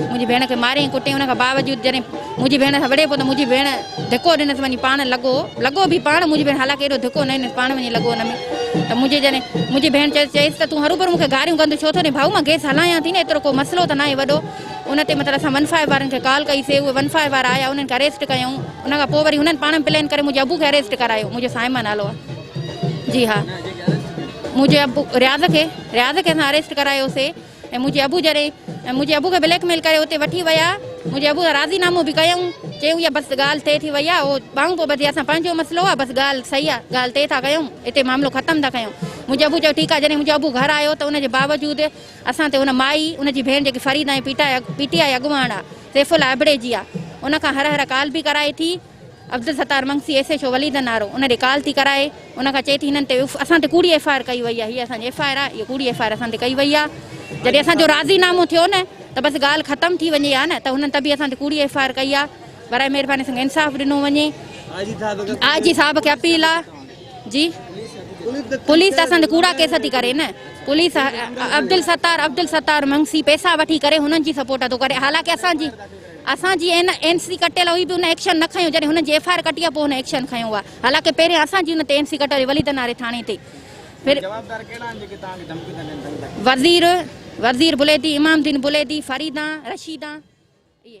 منهنجي ڀيڻ کي ماري ۽ ڪٽي ان کان باوجود جڏهن منهنجي ڀيڻ سان وڙهي پيو ته منهنجي ڀيڻ ڌڪو ڏنس وڃي پاڻ لڳو لڳو به پاڻ منهنجي ڀيڻ حالانڪه ايڏو ڌڪو نه ڏنس پاڻ وڃي لڳو ان ۾ ته منهنجي جڏهن منهنجي ڀيڻ چيس چيس ته تون هروڀرو مون کي گاريون ڪندو ڇو ٿو ڏين ڀائو مان گيس هلايان ٿي نه ايترو ڪو مسئلو ته ناهي وڏو ان تي مطلب اسان ون فائيو وارن کي ڪال ڪئي سي اهي ون فائيو وارا آيا انهن کي اريسٽ ڪيائون ان کان پوء وري هنن پاڻ ۾ پلين ڪري منهنجي ابو کي اريسٽ ڪرايو منهنجو صائمه نالو آهي جي ها منهنجي ابو رياض کي رياض کي اسان اريسٽ ڪرايو سي ۽ منهنجي ابو جڏهن ۽ منهنجي ابو کي بليڪ ميل ڪري اتي وٺي ويا منهنجي ابو سان راضي نامو به ڪيائون چيائون اها بس ڳالهه طئي ٿي وئي آهي اهو ٻانهون پيو ٻڌي اسان پنهنجو مسئلو آهي بس ڳالهه صحيح آهي ڳالهه طئي ٿا ڪيائون اتي معاملو ختم ٿا ڪيائون منهنجي ابو چيو ٺيڪ آهي جڏهن منهنجو ابو گهر آيو ته ان جي باوجود اسان تي ان مائي ان جي ڀيڻ جيڪي فريده ۽ پي ٽي آء اڳواڻ آهي سيف الله ابڙي جي آهي ان کان هر هر ڪال به ڪرائي ٿي عبدالستار منگ C S H O Waleed انارو ان ڏي ڪال ٿي ڪرائي ان کان چئي ٿي هنن تي اسان تي ڪوڙي ايف آء آر ڪئي وئي آهي هي اسان جي ايف آء آر آهي اهي ڪوڙي ايف آء آر اسان تي ڪئي وئي آهي جڏهن اسان جو راضي نامو ٿيو نه ته بس ڳالهه ختم ٿي وڃي ها نه ته هنن ته به اسان تي ڪوڙي ايف آء آر ڪئي آهي برائي مهرباني سان انصاف ڏنو وڃي آء جي صاحب کي اپيل آهي جي پوليس اسان تي ڪوڙا ڪيس ٿي ڪري نه پوليس عبدالستار عبدالستار منگ سي پيسا وٺي ڪري هنن جي سپورٽ ٿو ڪري حالانڪه اسان جي اسان جي اين اين سي ڪٽيل هئي به ان ايڪشن نه کنيو جڏهن هنن جي ايف آء آر ڪٽي آ پوء هن ايڪشن کنيو آ حالانڪه پهرين اسان جي ان تي اين سي ڪٽيل هئي وليد ناري ٿاڻي تي پھر جوابدار ڪهڙا آهن جيڪي توهان کي ڌمڪيون ٿا ڏين سائين ڀٽي. وزير وزير بليدي امام دين بليدي فريدان رشيدان اهي